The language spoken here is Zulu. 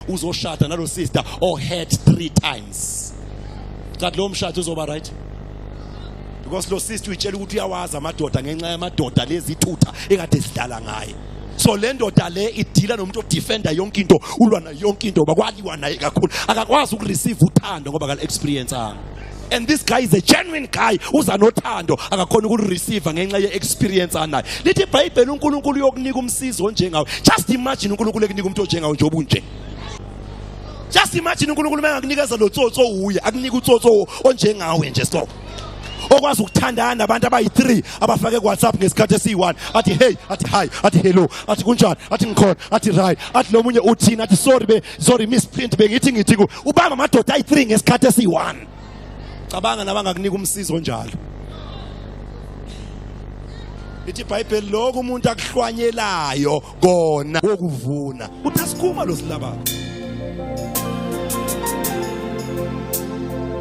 uzoshada nalo sister or hurt three times kanti lo mshado uzoba right because lo sister uyitshela ukuthi uyawazi amadoda ngenxa yamadoda lezithutha ekade sidlala ngaye so le ndoda le idila nomuntu odefenda yonke into ulwa nayo yonke into ngoba kwaliwa naye kakhulu akakwazi ukureceive uthando ngoba kali experience anga and this guy is a genuine guy uza nothando akakhona ukulireceive ngenxa ye-experience anayo lithi ibhayibheli unkulunkulu uyokunika umsizi onjengawe just imagine unkulunkulu ekunika umuntu onjengawe njengoba unje just imagine unkulunkulu uma engakunikeza lo tsotso uye akunika utsotso onjengawe nje so okwazi ukuthandana nabantu abayi-3 abafake kuwhatsapp ngesikhathi esiyi-1 athi hey athi hi athi hello athi kunjani athi ngikhona athi right athi lo munye uthini athi sorry be sorry miss print bengithi ngithi ku ubamba amadoda ayi3 ngesikhathi esi1 cabanga nabangakunika umsizo njalo ithi ibhayibheli lokho umuntu akuhlwanyelayo kona wokuvuna uthi asikhuma lo silabako